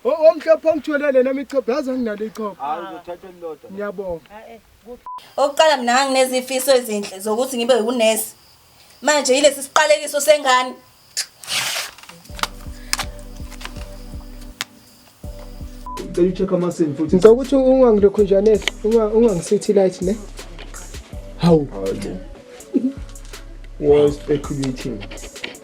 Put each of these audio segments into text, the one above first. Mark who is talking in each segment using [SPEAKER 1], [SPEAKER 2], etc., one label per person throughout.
[SPEAKER 1] Omhlophe ongitholele nami ichopho yazi anginalo ichopho. Hayi uzothatha elilodwa.
[SPEAKER 2] Ngiyabonga.
[SPEAKER 3] Okuqala mina nganginezifiso ezinhle zokuthi ngibe unesi. Manje yilesi siqalekiso sengane.
[SPEAKER 2] Ngicela ucheck amasini futhi. Ngicela ukuthi ungangilokhunjanesi,
[SPEAKER 1] ungangisithi light ne. Hawu.
[SPEAKER 2] Was speculating.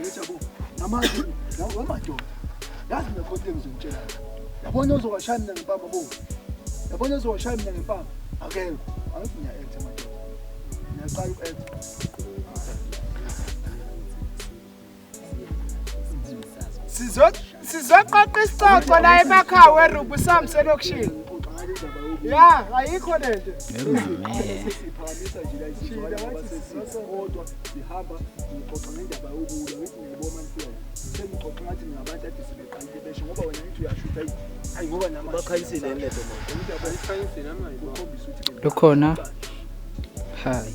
[SPEAKER 4] Yebo, ngamanje nawe madoda. Yazi mina konke ngizomtshela. Yabona uzowashaya mina ngempama bo. Yabona uzowashaya mina ngempama. Akekho. Angithi ngiya act madoda. Ngiyaqala uku act.
[SPEAKER 1] Sizwe sizoqoqa isicoco la emakhawu erubu samse lokishini ya ayikho
[SPEAKER 4] lento lukhona
[SPEAKER 5] hayi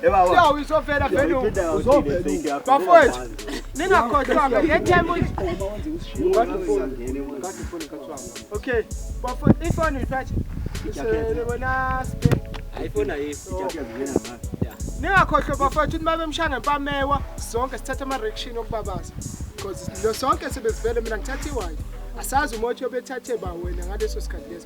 [SPEAKER 1] siyawuyisofela vele bafowethu ningakhohlwanga ngethemu okay bafowethu ifoni uyiphathe isebona sibheke
[SPEAKER 6] ayifoni ayikho
[SPEAKER 1] ningakhohlwa bafowethu ukuthi babemshaya ngempamewa sonke sithatha ama-rection okubabaza because lo sonke sebezivele mina ngithatha iwayo asazi umothi obethathe ba wena ngaleso sikhathi leso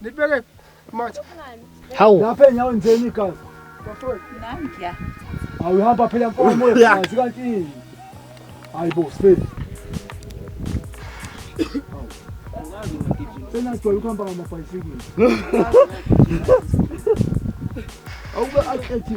[SPEAKER 1] Nibeke manje. Hawu.
[SPEAKER 5] Lapha enyaweni njeni
[SPEAKER 4] igazi. Nami
[SPEAKER 7] ngiya. Awuhamba
[SPEAKER 4] phela mfowethu uyazi kanti yini? Hayi bo sibili. Sena sijwayele ukuhamba ngamabhayisikili. Awube akethi.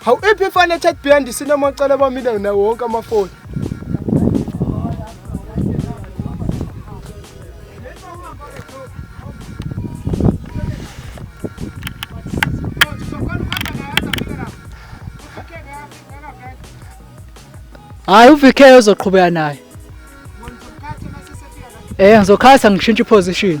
[SPEAKER 1] Hawu iphi ifana chat behind sinamacala bamile nawo wonke amafoni.
[SPEAKER 5] Hayi uVK uzoqhubeka naye. Eh ngizokhatha ngishintshe position.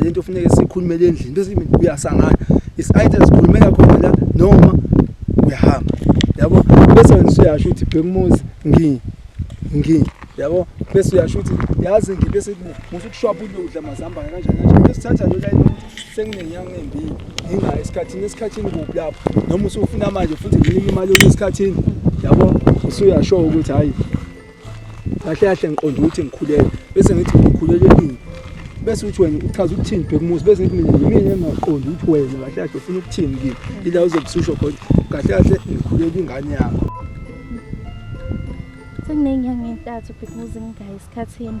[SPEAKER 4] lento funeke sikhulumele endlini bese uyasangana is either sikhulumela khona la noma uyahamba yabo bese wena usuyasho ukuthi bhekumuzi ngi ngi yabo bese uyasho ukuthi yazi ngi bese musu kushwapha ukudla mazamba kanjani kanjani bese thatha lo line ukuthi senginenyanga embi nginga esikhathini esikhathini kuphi lapho noma usufuna manje futhi nginika imali esikhathini yabo usuyasho ukuthi hayi kahle kahle ngiqonda ukuthi ngikhulele bese ngithi ngikhulele ini bese uthi wena uchaza ukuthini bhekumuzi bese ngithi mina yimina engaqondi ukuthi wena kahle kahle ufuna ukuthini kimi ila uzobususho khona kahle kahle ngikhulele ingane yakho
[SPEAKER 8] sekunenyanga entathu bhekumuzi ngingayi esikhathini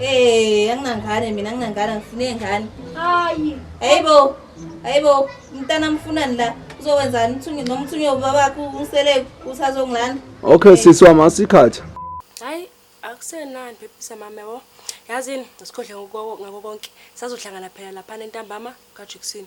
[SPEAKER 8] Eh, anginangane
[SPEAKER 3] mina anginangane ngifune ngane. Hayi.
[SPEAKER 8] Hayibo.
[SPEAKER 3] Hayibo, mntana mfunani la? Uzokwenzani mthungi noma mthungi wobabakho ungisele usazongilanda? Okay sisi wami
[SPEAKER 4] asikhatha. Hayi,
[SPEAKER 9] akusenani phephisa mama wo. Yazini ngisikhohle ngoko ngako konke. Sazohlangana phela lapha entambama kaJuxini.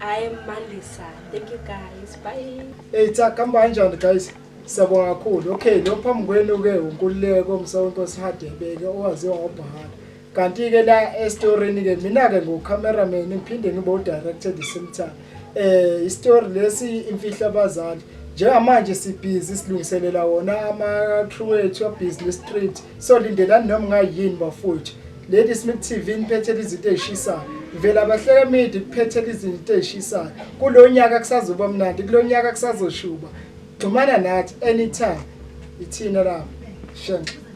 [SPEAKER 9] I am Mandisa. Thank you guys. Bye. Hey
[SPEAKER 1] cha kamba kanjani guys? Siyabonga kakhulu. Okay, lo phambi kwenu ke uNkululeko Msawonto Sihadebeke owaziwa ngobhahara. Kanti ke la estorini ke mina ke ngo cameraman ngiphinde ngibo director the same time. Eh istory lesi imfihla abazali. Njengamanje sibhizi silungiselela wona ama crew ethu ya business street. so lindelani noma ngayini bafowethu lady smith tv niphethela izinto ey'shisayo vela bahleke midi kuphethela izinto ey'shisayo kulo nyaka kusazoba mnandi kulo nyaka kusazoshuba xhumana nathi anytime ithina lapho shenxa